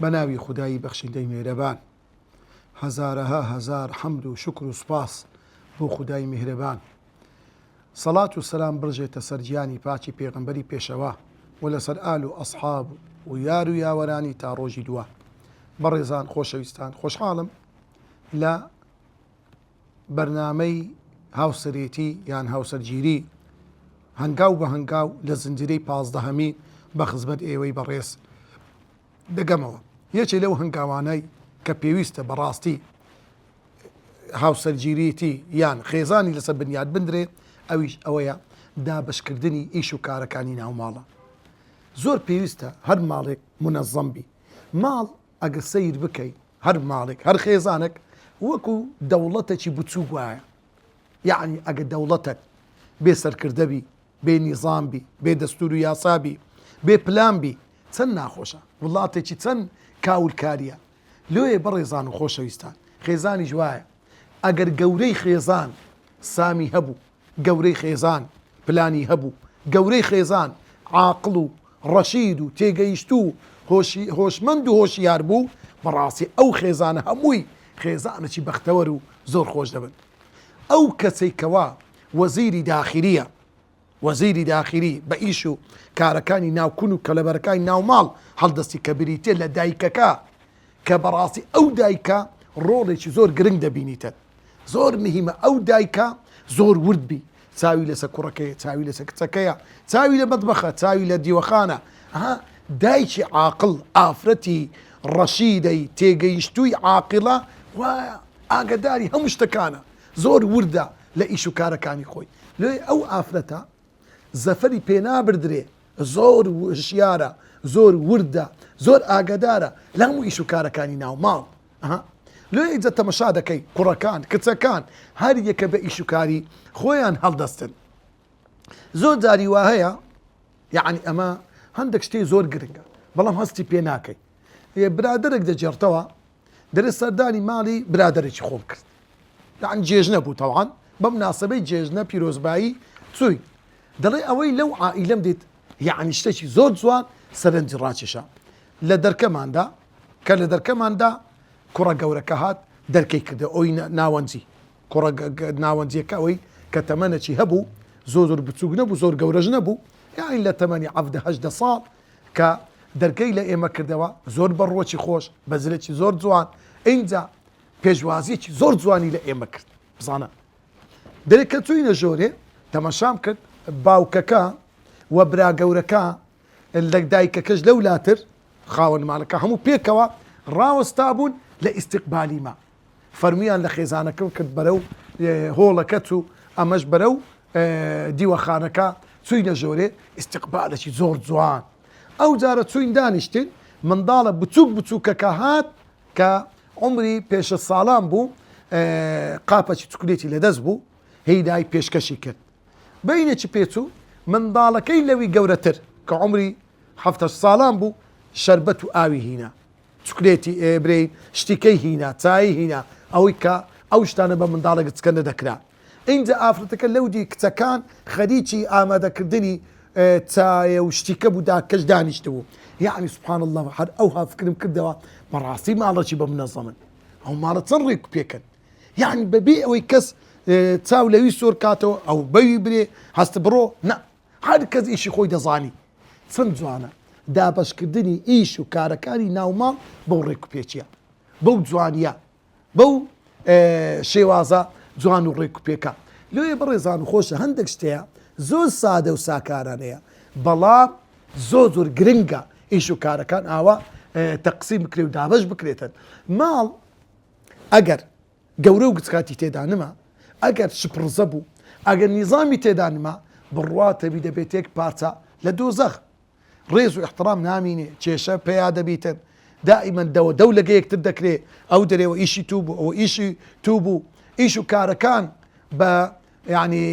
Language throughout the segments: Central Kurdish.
بە ناوی خودایی بەخشندەی مێهرەبان هەزارەها هەزار حەمد و شوکر و سوپاس بۆ خودای میهرەبان سەڵات و سەلام بڕژێتە سەر گیانی پاکی پێغەمبەری پێشەوا و لەسەر ئال و ئەسحاب و یار و یاوەرانی تا ڕۆژی دووە بەڕێزان خۆشەویستان خۆشحاڵم لە بەرنامەی هاوسەرێتی یان هاوسەرگیری هەنگاو بە هەنگاو لە زنجیرەی پازدەهەمی بە خزمەت ئێوەی بەڕێز دەگەمەوە یەکێ لەو هەنگاوانەی کە پێویستە بەڕاستی هاوسەرگیریتی یان خێزانی لەسەر بنیاد بندرێ ئەویش ئەوەیە دابشکردنی ئیش و کارەکانی ناوماڵە زۆر پێویستە هەر ماڵێک منەزەم بی ماڵ ئەگەر سەیر بکەی هەر ماڵێک هەر خێزانەک وەکو دەوڵەتەکی بچووک وایە یەعنی ئەگەر دەوڵەتەک بێ سەرکردە بی بێ نیزام بی بێ دەستور و یاسا بی بێ پلان بی چەند ناخۆشە وڵاتێکی چەند کاولکاریە لۆیێ بەڕێزان و خۆشەویستان خێزانیش وایە ئەگەر گەورەی خێزان سامی هەبوو گەورەی خێزان پلانی هەبوو، گەورەی خێزان عاقڵ و ڕەشید و تێگەیشتوو و هۆشمەند و هۆشیار بوو، بەڕاستی ئەو خێزانە هەمووی خێزانەکی بەختەوەر و زۆر خۆش دەبن. ئەو کەسەی کەوا وەزیری داخیلیە، وەزیری داخیلی بە ئیش و کارەکانی ناو کون و کەلەبەرەکانی ناو ماڵ هەڵدەستی کە بریتیە لە دایکەکە کە بەڕاستی ئەو دایکە ڕۆڵێکی زۆر گرنگ دەبینیتن زۆر مهیمە ئەو دایکە زۆر ورد بی چاوی لەسە کوڕەکەی چاوی لەسە کچەکەیە چاوی لە مەتبەخە چاوی لە دیوەخانە ها دایکی عاقل ئافرەتی ڕەشیدەی تێگەیشتووی عاقڵە وایە ئاگداری هەموو شتەکانە زۆر وردە لە ئیش و کارەکانی خۆی لێ ئەو ئافرەتە زەفەری پێنابدرێ زۆر وشیارە زۆر وردە زۆر ئاگەدارە لە هەموو ئیش و کارەکانی ناو ماڵ ها لۆ ئیجە تەمەشا دەکەی کوڕەکان کچەکان هەر یەکە بە ئیش و کاری خۆیان هەڵدەستن زۆر جاری وا هەیە یعنی ئەمە هەندێک شتێ زۆر گرنگە بەڵام هەستی پێ ناکەی برادرێک دەجێڕتەوە درز سەردانی ماڵی برادەرێکی خۆم کرد یان جێژنە بوو تەوان بەم ناسەبەی جێژنە پیرۆزبایی چووی دەڵێ ئەوەی لەو عائیلەم دیت یعنی شتێکی زۆر جوان سەرنجی ڕاکێشا لە دەرکەماندا کە لە دەرکەماندا کوڕە گەورەکە هات دەرکەی کردە ئەوی ناوەنجی کوڕە ناوەنجیەکە ئەوەی کە تەمەنەکی هەبوو زۆر زۆر بچووک نەبوو زۆر گەورەش نەبوو یاین لە تەمەنی عەفدە هەشدە ساڵ کە دەرگەی لە ئێمە کردەوە، زۆر بە ڕووەکی خۆش، بە زلێکی زۆر جوان، ئینجا پێشوازییەکی زۆر جوانی لە ئێمە کرد. بزانە! دەرێ کە چووینە ژۆرێ، تەماشام کرد، باوکەکە و برا گەورەکە لە دایکەکەش لەولاتر، خاوەن ماڵەکە هەموو پێکەوە ڕاوەستابوون لە ئیستیقبالیمان. فەرمیان لە خێزانەکەم کرد بەرەو هۆڵەکە چوو ئەمەش بەرەو دیوەخانەکە چووینە ژۆرێ ئیستقبالەکی زۆر جوان ئەو جارە چوین دانیشتین منداڵە بچووک بچووکەکە هات کە عمری پێشە ساڵان بوو قاپەکی چکلێتی لەدەست بوو هیدای پێشکەشی کرد بینێکی پێچوو منداڵەکەی لەوی گەورەتر کە عمری هەفتە ساڵان بوو شربەت و ئاوی هینا چوکلێتی ئێ برێی شتی کەی هینا چایی هینا ئەوەی کە ئەو شتانە بە منداڵێ گچکە نەدەکرا ئینجا ئافرەتەکە لەو دی کچەکان خەریکی ئامادەکردنی چایە و شتیکە بوو دا کەش دانیشتبوو یەعنی سبحان اللە هەر ئەوها فکرم کردەوە بەڕاستی ماڵەکی بە منەزەمن ئەو ماڵە چەند ڕێک پێکەن یەعنی بەبێ ئەوەی کەس چاو لەوی سۆر کاتەوە ئەو بەوی برێ هەست بڕۆ نە هەر کەس ئیشی خۆی دەزانی. چەند جوانە دابەشکردنی ئیش و کارەکانی ناو ماڵ بەو ڕێک و پێچە، بەو جوانیە، بەو شێوازە جوان و ڕێک و پێکە. لۆیە بەڕێزان و خۆشە هەندێک شتەیە زۆر سادە و ساکارانەیە، بەڵام زۆر زۆر گرنگە ئیش و کارەکان ئاوا تەقسیم بکرێ و دابەش بکرێتن. ماڵ ئەگەر گەورە و گچکاتی تێدا نما، ئەگەر شپڕزە بوو، ئەگەر نیزامی تێدا نما، بڕواتەبی دەبێت یەک پارچە لە دۆزەخ. ڕێز و ئیحتڕام نامینێ، کێشە پەیا دەبیتن، دائیمەن دەوە دەو لەگە یەکتر دەکرێ، ئەو دەرێوە ئیشی تو بوو، ئەوە ئیشی تو بوو، ئیش و کارەکان بە یەعنی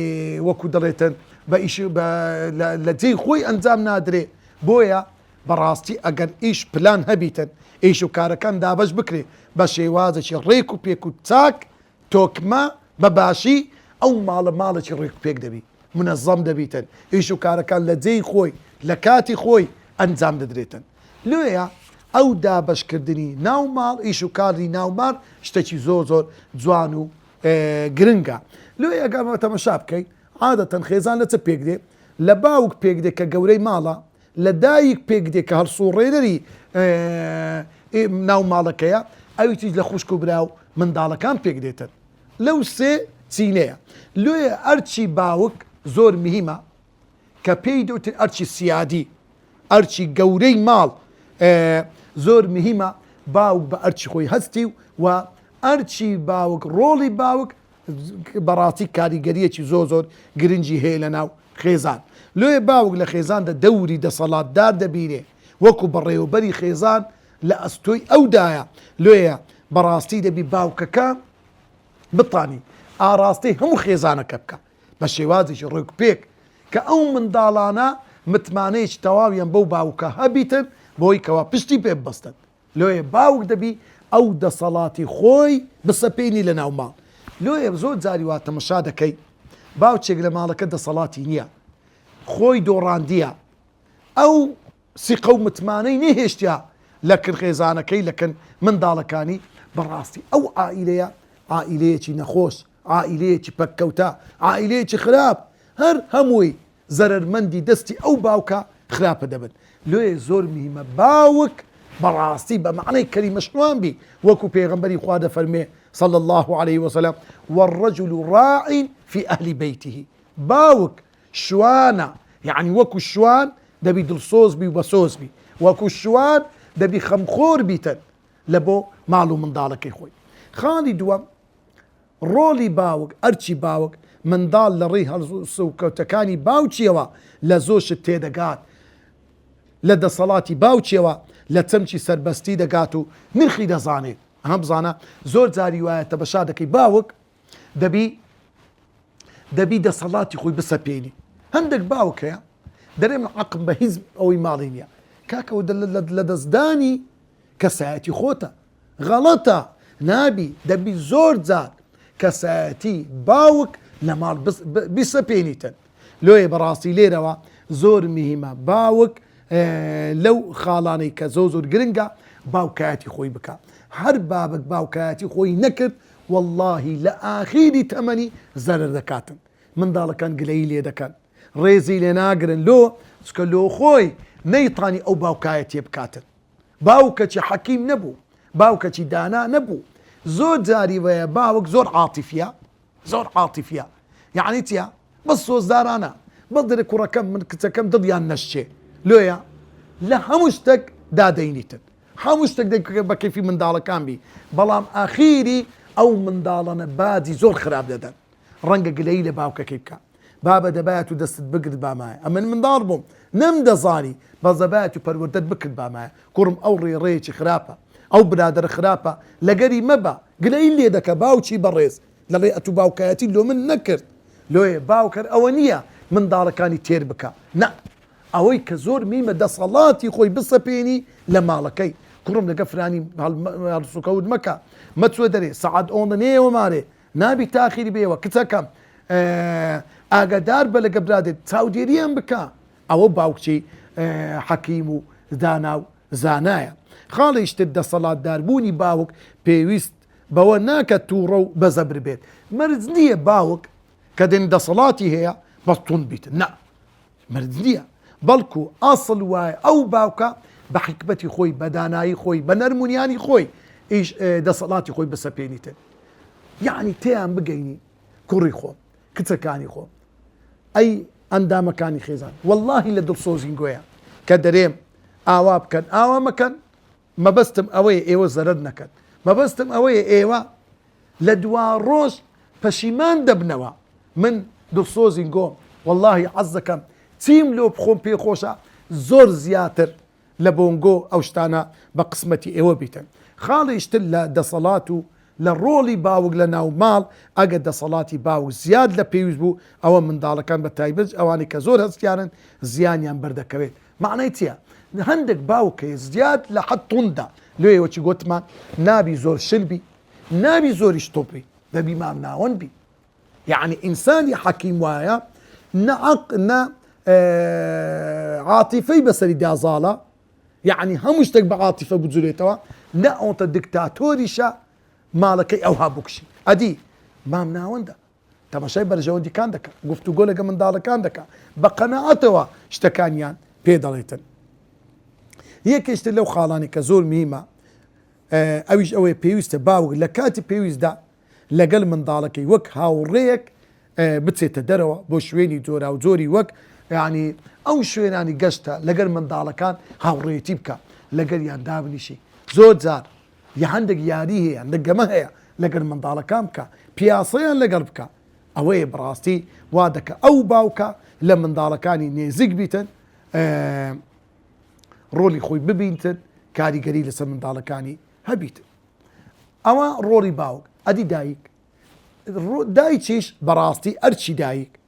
وەکو دەڵێتن بە ئیش بە لە لە جێی خۆی ئەنجام نادرێ بۆیە بە ڕاستی ئەگەر ئیش پلان هەبیتن ئیش و کارەکان دابەش بکرێ بە شێوازێکی ڕێک و پێک و چاک تۆکمە بە باشی ئەو ماڵە ماڵێکی ڕێک و پێک دەبی منەزەم دەبیتن ئیش و کارەکان لە جێی خۆی لە کاتی خۆی ئەنجام دەدرێتن لۆیە ئەو دابەش کردنی ناو ماڵ ئیش و کاری ناو مار شتەکی زۆر زۆر جوان و گرنگە لۆیە گەر بە تەمەشا بکەین عادەتەن خێزان لە چ پێک دێ؟ لە باوک پێک دێ کە گەورەی ماڵە، لە دایک پێک دێ کە هەڵسوڕێنەری ناو ماڵەکەیە، ئەویتریش لە خوشک و برا و منداڵەکان پێک دێتن لەو سێ چینەیە لۆیە ئەرکی باوک زۆر مهیمە کە پێی دوتن ئەرچی سیادی ئەرچی گەورەی ماڵ زۆر مهیمە باوک بە ئەرچی خۆی هەستی و و ئەرچی باوک ڕۆڵی باوک بەڕاستی کاریگەریەکی زۆ زۆر گرنگی هەیە لە ناو خێزان لۆیە باوک لە خێزاندا دەوری دەسەڵاتدار دەبینێ وەکو بەڕێوەبەری خێزان لە ئەستۆی ئەودایە لۆیە بەڕاستی دەبی باوکەکە بتانی ئاراستەی هەموو خێزانەکە بکە بە شێوازێکی ڕێکوپێک کە ئەو منداڵانە متمانەیەکی تەواویان بەو باوکە هەبیتن بۆی کەوا پشتی پێ ببەستن. لۆیە باوک دەبی ئەو دەسەڵاتی خۆی بسەپینی لە ناو ماڵ. لۆیە زۆر جاری وا تەمەشا دەکەی باوچێک لە ماڵەکە دەسەڵاتی نییە خۆی دۆڕاندیە ئەو سیقە و متمانەی نەهێشتیە لە کرخێزانەکەی لە کن منداڵەکانی بەڕاستی ئەو عائیلەیە عائیلەیەکی نەخۆش عائیلەیەکی پەککەوتە عائیلەیەکی خراپ هەر هەمووی زەرەرمەندی دەستی ئەو باوکە خراپە دەبن لۆیێ زۆر میهمە باوک بەڕاستی بە مەعنای کەلیمە شوان بی وەکو پێغەمبەری خوا دەفەرموێ صلی اللە علیه وسلم والرجل راع فی اهل بیته باوک شوانە یەعنی وەکو شوان دەبی دڵسۆز بی و بەسۆز بی وەکو شوان دەبی خەمخۆر بیتن لە بۆ ماڵ و منداڵەکەی خۆی خاڵی دووەم ڕۆڵی باوک ئەرکی باوک منداڵ لە ڕێی هەڵسو و کەوتەکانی باوکیەوە لە زۆر شت تێدەگات لە دەسەڵاتی باوکیەوە لە چەمکی سەربەستی دەگات و نرخی دەزانێت ئەها بزانە زۆر جاری وایە تەبەشا دەکەی باوک دەبی دەبی دەسەڵاتی خۆی بسەپێنی هەندێک باوک هەیە دەرێ من عقم بە هیز ئەوەی ماڵی نییە کاکەوە لە دەستدانی کەسایەتی خۆتە غەڵەتە نابی دەبی زۆر جار کەسایەتی باوک لە ماڵ بیسەپێنیتن لۆیە بەڕاستی لێرەوە زۆر مهیمە باوک لەو خاڵانەی کە زۆ زۆر گرنگە باوکایەتی خۆی بکە هەر بابک باوکایەتی خۆی نەکرد واللهی لە ئاخیری تەمەنی زەرەر دەکاتن منداڵەکان گلەیی لێ دەکەن ڕێزی لێ ناگرن لۆ چکە لۆ خۆی نەیتانی ئەو باوکایەتیە بکاتن باوکەچی حەکیم نەبوو باوکەچی دانا نەبوو زۆر جاری وەیە باوک زۆر عاتیفە زۆر عاتیفیە یەعنی چیە بەس سۆزدارانە بەس دەرێ کوڕەکەم من کچەکەم دڵیان نەشچێ لۆیە لە هەموو شتەک دا دەینیتن هەموو شتەک دەک بە کەیفی منداڵەکان بی بەڵام ئاخیری ئەو منداڵەنە باجی زۆر خراپ دەدەن ڕەنگە گلەیی لە باوکەکەی بکا. بابە دەبایە تو دەستت بگرت بامایە ئەمن منداڵ بوم نەم دەزانی بەس دەبایە تو پەروەردەت بکرد بامایە کوڕم ئەو ڕێ ڕێیەکی خراپە ئەو برادەرە خراپە لەگەری مەبە گلەیی لێ دەکە باوکی بەڕێز دەڵێ ئەتو باوکایەتی لۆ من نەکرد لۆیێ باوک هەر ئەوە نیە منداڵەکانی تێر بکا نا ئەوەی کە زۆر میمە دەسەڵاتی خۆی بسەپێنی لە ماڵەکەی کوڕم لەگە فرانی هەڵسوکەوت مەکە مەچوە دەرێ سەعات ئۆنە نێەوە مارێ نابی تاخیر بێوە کچەکەم ئاگادار بە لەگە برادێت چاودێریان بکە ئەوە باوکچی حەکیم و دانا و زانایە خاڵیش تر دەسەڵات داربوونی باوک پێویست بەوە ناکە تووڕە و بەزەبر بێت مەرج نییە باوک کە دێن دەسەڵاتی هەیە بەستون بیت نا مرد نیە بەڵکو ئەسڵ وایە ئەو باوکە بە حیکمەتی خۆی بە دانایی خۆی بە نەرمونیانی خۆی ئیش دەسەڵاتی خۆی بەسەپێنیتن یعنی تێیان بگەینی کوڕی خۆم کچەکانی خۆم ئەی ئەندامەکانی خێزان واللهی لە دڵسۆزین گۆیان کە دەرێم ئاوا بکەن ئاوا مەکەن مەبەستم ئەوەیە ئێوە زەرەر نەکەن، مەبەستم ئەوەیە ئێوە لە دوا ڕۆژ پەشیمان دەبنەوە، من دڵسۆزین گۆم وەڵاهی عەزدەکەم چیم لۆ بخۆم پێ خۆشە زۆر زیاتر لە بۆنگۆ ئەو شتانە بە قسمەتی ئێوە بیتن خاڵیش تر لە دەسەڵات و لە ڕۆڵی باوک لە ناو ماڵ ئەگەر دەسەڵاتی باوک زیاد لە پێویست بوو ئەوە منداڵەکان بە تایبەت ئەوانەی کە زۆر هەستیارن زیانیان بەردەکەوێت مەعنای چیە هەندەک باوکە زیاد لە حەد توندە لۆیە وەکی گۆتمان نابی زۆر شل بی نابی زۆریش توند بی دەبی مام ناوەند بی یەعنی ئینسانی حەکیم وایە نە عەق نە عاتیفەی بەسەری دا زاڵە یەعنی هەموو شتێک بە عاتیفە بجولێتەوە نە ئەوەتە دیکتاتۆریشە ماڵەکەی ئەوها بکشی ئەدی مام ناوەندە تەماشای بەرژەوەندیکان دەکا، گفتوگۆ لەگە منداڵەکان دەکا، بە قەناعەتەوە شتەکانیان پێ دەڵێتن. یەکێش تر لەو خاڵانەی کە زۆر مهیمە ئەویش ئەوەیە پێویستە باوک لە کاتی پێویستدا لەگەل منداڵەکەی وەک هاوڕێیەک بچێتە دەرەوە بۆ شوێنی جۆرا و جۆری وەک ینی ئەو شوێنانی گەشتە لەگەر منداڵەکان هاوڕێتی بکە لەگەریان دابنیشی زۆر جار یە هەندێک یاری هەیە لە گەمە هەیە لەگەر منداڵەکان بکە پیاسەیان لەگەڵ بکە ئەوەیە بڕاستی وا دەکە ئەو باوکە لە منداڵەکانی نێزیک بیتن ڕۆلی خۆی ببینتن کاریگەری لەسەر منداڵەکانی هەبیت ئەوە ڕۆڵی باوک ئەدی دایک دایچیش بەڕاستی ئەرچی دایک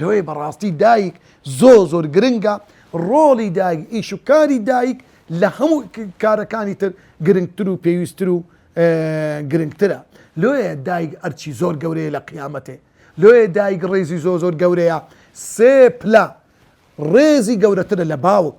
لۆیە بەڕاستی دایک زۆر زۆر گرنگە، ڕۆڵی دایک ئیش و کاری دایک لە هەموو کارەکانی تر گرنگتر و پێویستتر و گرنگترە لۆیە دایک ئەرکی زۆر گەورەیە لە قیامەتێ لۆیە دایک ڕێزی زۆر زۆر گەورەیە سێ پلە ڕێزی گەورەترە لە باوک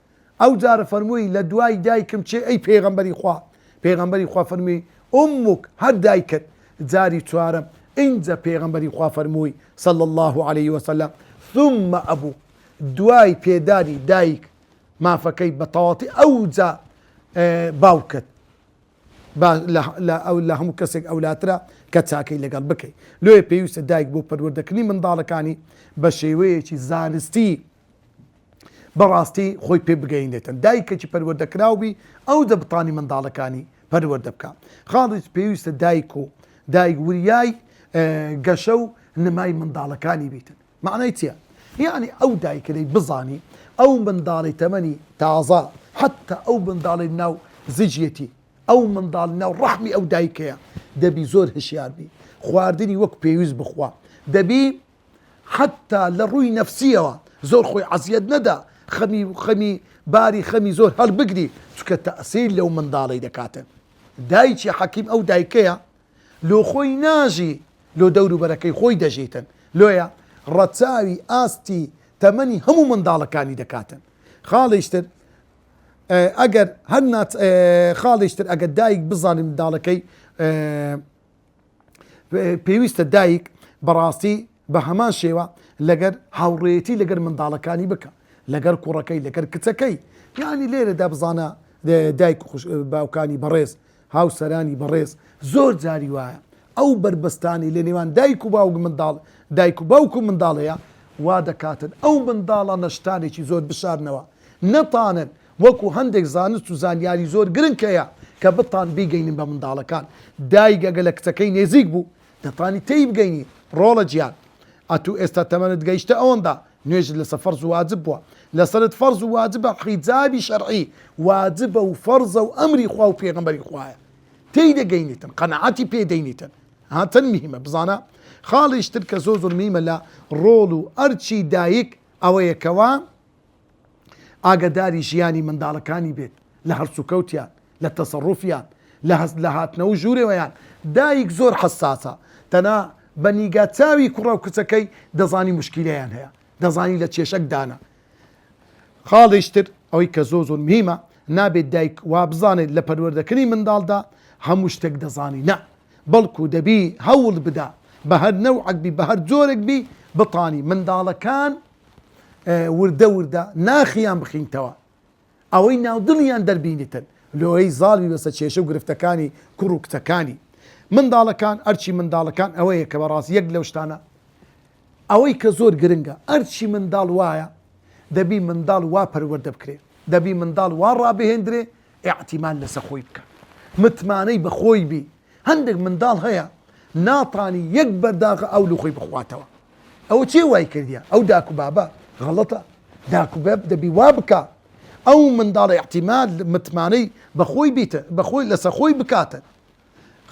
ئەوجار فەرمووی لە دوای دایکم چێ ئەی پێغەمبەری خوا پێغەمبەری خوا فەرمووی امک هەر دایکت جاری چوارەم ئینجا پێغەمبەری خوا فەرمووی صلی اللە علیه وسلم ثم ابوک دوای پێدانی دایک مافەکەی بە تەواتی ئەوجا باوکت لە هەموو کەسێک ئەولاترە کە چاکەی لەگەڵ بکەیت لێ پێویستە دایک بۆ پەروەردەکردنی منداڵەکانی بە شێوەیەکی زانستی بەڕاستی خۆی پێ بگەینێتن دایکەکی پەروەردەکراو بی ئەو دەبتانی منداڵەکانی پەروەردە بکا خاڵیس پێویستە دایک و دایک وریای گەشە و نمای منداڵەکانی بیتن معنای چیە یعنی ئەو دایکەی بزانی ئەو منداڵی تەمەنی تازە حتا ئەو منداڵی ناو زجیەتی ئەو منداڵ ناو ڕەحمی ئەو دایکەیە دەبی زۆر هشیار بی خواردنی وەک پێویست بخوا دەبی حەتتا لە ڕووی نەفسییەوە زۆر خۆی عەزیەت نەدا خەمی خەمی باری خەمی زۆر هەڵبگری چونکە تەئسیر لەو منداڵەی دەکاتە دایکی حەکیم ئەو دایکەیە لۆ خۆی ناژی لۆ دەوروبەرەکەی خۆی دەژیتن لۆیە ڕەچاوی ئاستی تەمەنی هەموو منداڵەکانی دەکاتن خاڵیش تر ئەگەر هەر ناچ خاڵیش تر ئەگەر دایک بزانێت منداڵەکەی پێویستە دایک بەڕاستی بە هەمان شێوە لەگەر هاوڕێیەتی لەگەر منداڵەکانی بکە لەگەر کوڕەکەی لەگەر کچەکەی یعنی لێرەدا بزانە دایک باوکانی بەڕێز هاوسەرانی بەڕێز زۆر جاری وایە ئەو بربەستانی لە نێوان دایک و باوک منداڵ دایک و باوک و منداڵەیە وا دەکاتن ئەو منداڵە نەشتانێکی زۆر بشارنەوە نەتانن وەکو هەندێک زانست و زانیاری زۆر گرنگ هەیە کە بتان بیگەینن بە منداڵەکان دایک ئەگەر لە کچەکەی نێزیک بوو دەتانی تێی بگەینی ڕۆڵە جیان ئەتوو ئێستا تەمەنت گەیشتە ئەوەندا نوێژت لەسە فەرز و واجب بووە لەسەرت فەرز و واجبە حیجابی شەرعی واجبە و فەرزە و ئەمری خوا و پێغەمبەری خوایە تێی دەگەینیتن قەناعەتی پێ دەینیتن ها چەن مهمە بزانە خاڵیش تر کە زۆر زۆر مهمە لە ڕۆڵ و ئەرکی دایک ئەوەیە کەوا ئاگەداری ژیانی منداڵەکانی بێت لە هەڵسوکەوتیان لە تەسەڕوفیان لە هەست لە هاتنەوەو ژورەوەیان دایک زۆر حەساسە تەنا بە نیگا چاوی کوڕەو کچەکەی دەزانی مشکیلەیان هەیە دەزانی لە کێشەک دانە خاڵیش تر ئەوەی کە زۆ زۆر مهمە نابێت دایک وا بزانێت لە پەروەردەکردنی منداڵدا هەموو شتێک دەزانی نە بەڵکو دەبی هەوڵ بدا بە هەر نەوعەک بی بە هەر جۆرێک بی بتانی منداڵەکان وردە وردە ناخیان بخینتەوە ئەوەی ناودڵیان دەربینتن لۆیی زاڵ بی بەسە کێشە و گرفتەکانی کوڕ و کچەکانی منداڵەکان ئەرچی منداڵەکان ئەوەیە کە بەڕاست یەک لەو شتانە ئەوەی کە زۆر گرنگە ئەرچی منداڵ وایە دەبی منداڵ وا پەروەردە بکرێ دەبی منداڵ وا ڕابهێندرێ ئاعتیمان لەسە خۆی بکە متمانەی بەخۆی بی هەندێک منداڵ هەیە ناتانی یەک بەرداغ ئاو لەخۆی بخواتەوە ئەوە چێ وای کردیە ئەو داک و بابە غەڵەتە داک و باب دەبی وا بکا ئەو منداڵی احتیمال متمانەی بەخۆی بیتە بەخۆی لەسە خۆی بکاتە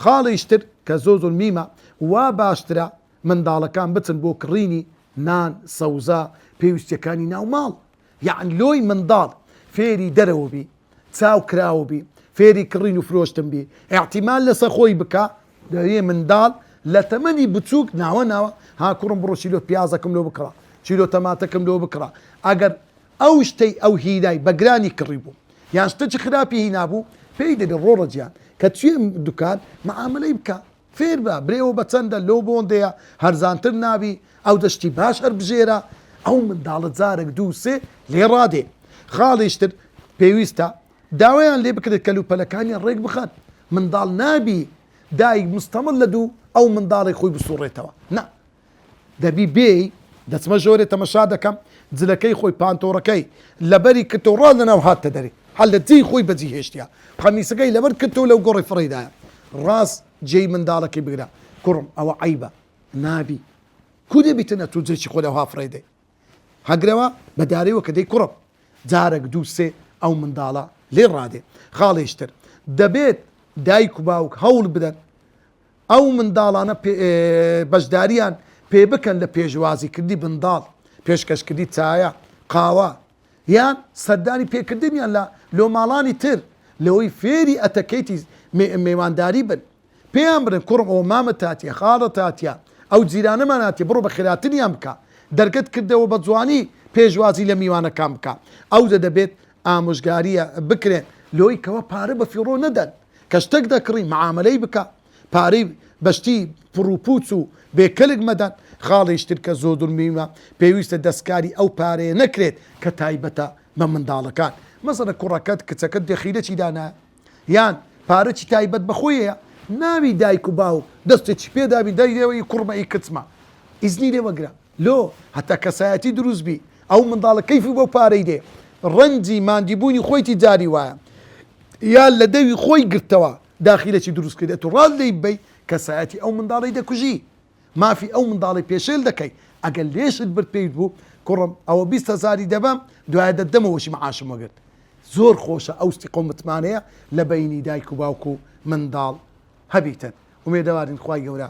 خاڵیش تر کە زۆ زۆر میمە وا باشترە منداڵەکان بچن بۆ کڕینی نان سەوزە پێویستیەکانی ناو ماڵ یان لۆی منداڵ فێری دەرەوە بی چاو کراوە بی فێری کڕین و فرۆشتن بی ئیعتیماد لەسە خۆی بکا دەیێ منداڵ لە تەمەنی بچووک ناوە ناوە ها کوڕم بڕۆ چیلۆ پیازەکەم لۆ بکڕە چیلۆ تەماتەکەم لۆ بکڕە ئەگەر ئەو شتەی ئەو هیلای بە گرانی کڕی بوو یان شتەکی خراپی هینابوو پێی دەبێ ڕۆڕە جیان کە چوێ دوکان معامەلەی بکا فێربە برێوە بەچەندە لۆ بۆندەیە هەرزانتر نابی ئەوجە شتی باش هەربژێرە ئەو منداڵە جارەک دوو سێ لێ ڕادێ خاڵیش تر پێویستە داوایان لێ بکرێت کەلوپەلەکانیان ڕێک بخەن منداڵ نابی دایک مستەمل لە دوو ئەو منداڵی خۆی بسوڕێتەوە نا دەبی بێی دەچمە ژۆرێ تەمەشا دەکەم جلەکەی خۆی پانتۆڕەکەی لەبەری کتو ڕا لەناو هاتتە دەرێ هەر لە جێی خۆی بەجی هێشتیە قەمیسەکەی لەبەر کتو لەو گۆڕی فڕێیدایە ڕاست جێی منداڵەکەی بگرە کوڕم ئەوە عەیبە نابی کو دەبیتن ئەتو جێی خۆ لەوها فڕێدەی هەگرەوە بە دارەوە کە دەی کوڕم جارەک دوو سێ ئەو منداڵە لێ ڕادێ خاڵێشتر دەبێت دایک و باوک هەوڵ بدەن ئەو منداڵانە بەشدارییان پێ بکەن لە پێشوازیکردنی منداڵ، پێشکەشکردنی چایە، قاوە، یان سەردانی پێکردنیان لە لۆ ماڵانی تر، لەوەی فێری ئەتەکەیتی مێوانداری بن، پێیان بڵێن کوڕم ئەوە مامت هاتیە، خاڵت هاتیە، ئەو جیرانەمان هاتیە، بڕۆ بە خێراتریان بکە، دەرگەت کردەوە بە جوانی پێشوازی لە میوانەکان بکە، ئەوجە دەبێت ئامۆژگاریە بکرێن لۆی کەوا پارە بە فیڕۆ نەدەن کە شتەک دەکڕی معامەلەی بکە پارەی بە شتی پڕو پوچ و بێ کەلک مەدەن خاڵیش تر کە زۆ دور میمە پێویستە دەسکاری ئەو پارەیە نەکرێت کە تایبەتە بە منداڵەکان مەسەنە کوڕەکەت کچەکەت دەخیلە چی دانایە یان پارەچی تایبەت بە خۆیەیە ناوی دایک و باوک دەستێچی پێ دابی دای لێوە ئی کوڕمە ئی کچمە ئیزنی لێ وەگرە لۆ هەتا کەسایەتی دروست بی ئەو منداڵە کەیفی بەو پارەی دێ ڕەنجی ماندی بوونی خۆیتی جاری وایە یا لە دەوی خۆی گرتەوە داخیلەچی دروست کردی ئەتو ڕاز لێی ببەی کەسایەتی ئەو منداڵەی دەکوژی. مافی ئەو منداڵەی پێشێل دەکەی ئەگەر لێشت برد پێویت بوو کوڕم ئەوە بیست هەزاری دەبەم دوایە دەتدەمەوەشی معاشم وەگرت زۆر خۆشە ئەو سیقە و متمانەیە لە بەینی دایک و باوک و منداڵ هەبیتن ئومێدەوارین خوای گەورە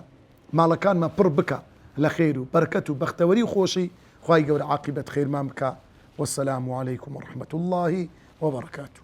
ماڵەکانمان پڕ بکا لە خێر و بەرکەت و بەختەوەری و خۆشی خوای گەورە عاقیبەت خێرمان بکا وەسەلام علیکم و رەحمەت اللە وبەڕەکاتوو.